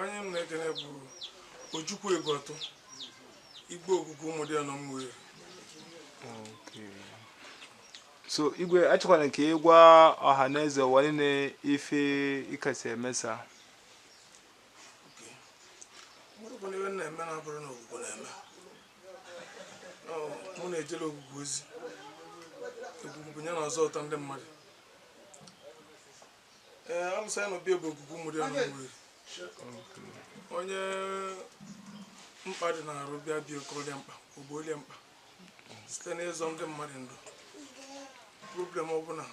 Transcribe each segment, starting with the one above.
onye m na-ekene bụ Ojukwu Egotụ igwe ogugu Umudiana Umueri so igwe achọkwara ka ị gwa ọha na eze ụwa niile ife ị kasị emesa marụkwa n'ife m na-eme na abụrụ na ogugu na-eme mụ na-ejele ogugu ozi ogugu bụ onye na-azọpụta ndị mmadụ onye mkpa dị n'arụ bịa bịa kọọrọ ya mkpa o gboolu ya mkpa site n'ịzọ ndị mmadụ ndụ problem ọbụla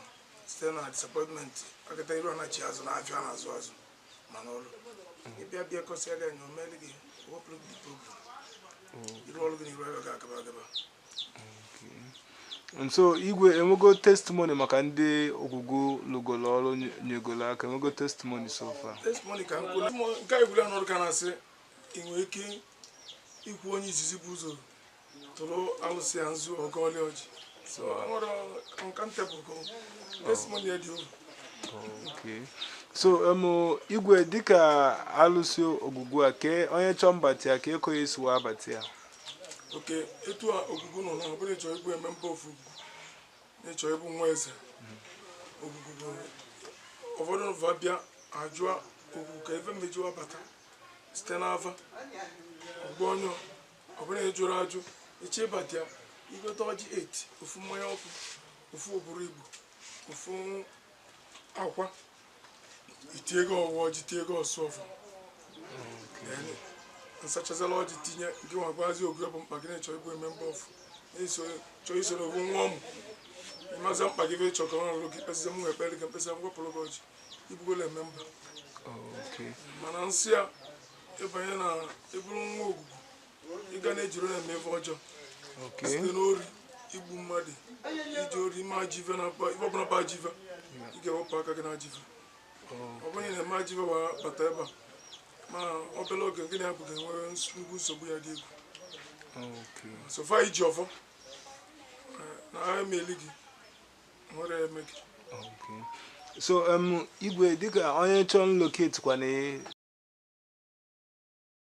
site na disappointment agata iru anachi azụ na afịa na-azụ azụ ma n'ọrụ ị bịa bịa kọsịa gị anya o meli gị wepụrụ gị problem iru ọrụ gị na iru ego ga-agaba agaba so igwe enwego testimony maka ndị ogugu lụgolo ọrụ nyegolo aka enwego testimony so far testimony ka nkụ nke a ebula n'ọrụ ka na-asị ị nwere ike ikwu onye izizi bu ụzọ tụrụ alụsị ya nzu ọ gọọlị ọjị so nwere uncountable testimony ya dị okay so um, igwe dịka alụsị ogugu a kee onye chọọ mbata ya kee ka ọ ya-esi wa bata ya okay etu a ogugu nọ na ọ bụrụ ịchọ ịbụ member of ogugu ịchọ ịbụ nwa eze ogugu bụ ụfọdụ va bịa ajụa ogugu ka ife m eji wa bata site n'ava ọgbọ onye ọ bụrụ ị jụrụ ajụ ịchọ ịbata ya i gote ọjị 8 ofu mmanya ọkụ ofu oburu igbo ofu akwa i tie ego ọwa ọjị tie ego ọsụ ọfọ nsachazala ọjị tinye gị wee gwazi ogugu mkpa gị na ịchọ ịbụ member of ịchọ isoro ofu nwa ọmụ ị mazi mkpa gị ife ịchọ ka ọ rụọrọ gị kpesịa m ekpere gị m kpesịa m wapụrụ gị ọjị ị bụgo a member mana nsọ ya ịbanye na ịbụrụ nwa ogugu ị ga na-ejiri ya eme ife ọjọọ site n'ori igbu mmadụ izu ori ime ajọ ife na mkpa ife ọbụla bụ ajọ ife ị ga-ewepụ aka gị na ajọ ife ọ bụrụ na ị na-eme ajọ ife wee bata ebe a ma obere oge gị na ya bụ ga-enwe nnukwu nsogbu ya dị egwu so far i ji ọfọ eh, na ha emeli gị nwere ya eme gị so um, igwe dịka onye chọrọ nlocate gị kwana